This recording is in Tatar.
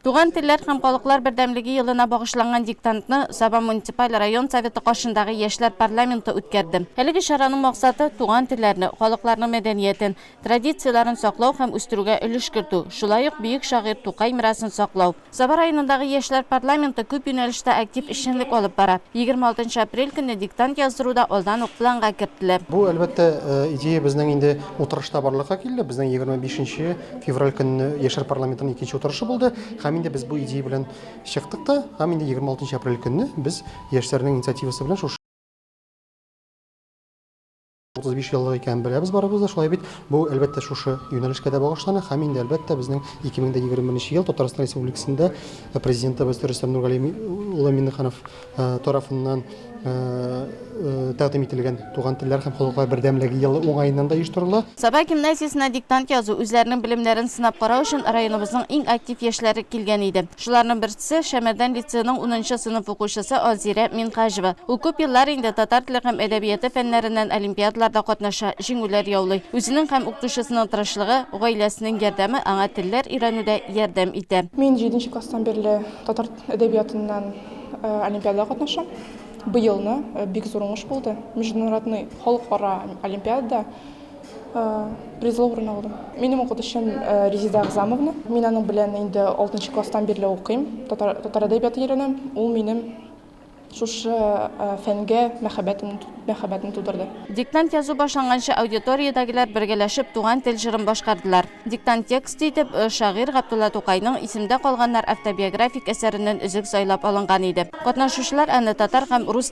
Туган телләр һәм халыклар бердәмлеге елына багышланган диктантны Саба муниципаль район Советы каршындагы яшьләр парламенты үткәрде. Әлеге чараның максаты, туган телләрне, халыкларның мәдәниятен, традицияләрен саклау һәм үстерүгә өлеш кертү, шулай ук бөек шагыйрь Тукай мирасын саклау. Саба районындагы яшьләр парламенты күп юнәлештә актив эшчәнлек алып бара. Егерме алтынчы апрель көнне диктант яздыру да алдан ук планга кертелә. Бу, әлбәттә, идея безнең инде утырышта барлыкка килде. Безнең егерме бишенче Февраль көнне яшәр парламентының икенче утырышы булды, һәм инде без бу идея белән чыктык та, һәм инде 26 апрель көнне без яшьләрнең инициативасы белән шушы 35 еллык икәнен беләбез барыбыз да, шулай бит. Бу, әлбәттә, шушы юнәлешкә дә багышлана һәм инде, әлбәттә, безнең 2021 ел Татарстан Республикасында президентыбыз Рөстәм Нургали улы Миннеханов тарафыннан тәкъдим ителгән Туган телләр һәм халыклар бердәмлеге елы уңаеннан да оештырыла. Саба гимназиясенә диктант язу, үзләренең белемнәрен сынап карау өчен районыбызның иң актив яшьләре килгән иде. Шуларның берсе, Шәмәрдән лицееның унынчы сыйныф укучысы Алзирә Минһаҗева. Ул күп еллар инде татар теле һәм әдәбияты фәннәреннән олимпиадаларда катнаша, җиңүләр яулый. Үзенең һәм укытучысының тырышлыгы, гаиләсенең ярдәме аңа телләр өйрәнүдә ярдәм итә. Мин җиденче класстан бирле татар Әдәбиятыннан олимпиадада катнашам. Быелны бик зур уңыш булды. Международный халыкара олимпиадада призлы урын алдым. Минем укытучым Резида Агзамовна. Мин аның белән инде 6 класстан бирле укыйм. Татар әдәбияты өйрәнәм. Ул минем Шушы фәнгә мәхәббәтне тудырды. Диктант язу башланганчы аудиториядәгеләр бергәләшеп Туган тел җырын башкардылар. Диктант тексты итеп шагыйрь Габдулла Тукайның Исемдә калганнар автобиографик әсәреннән өзек сайлап алынган иде. Катнашучылар аны татар һәм рус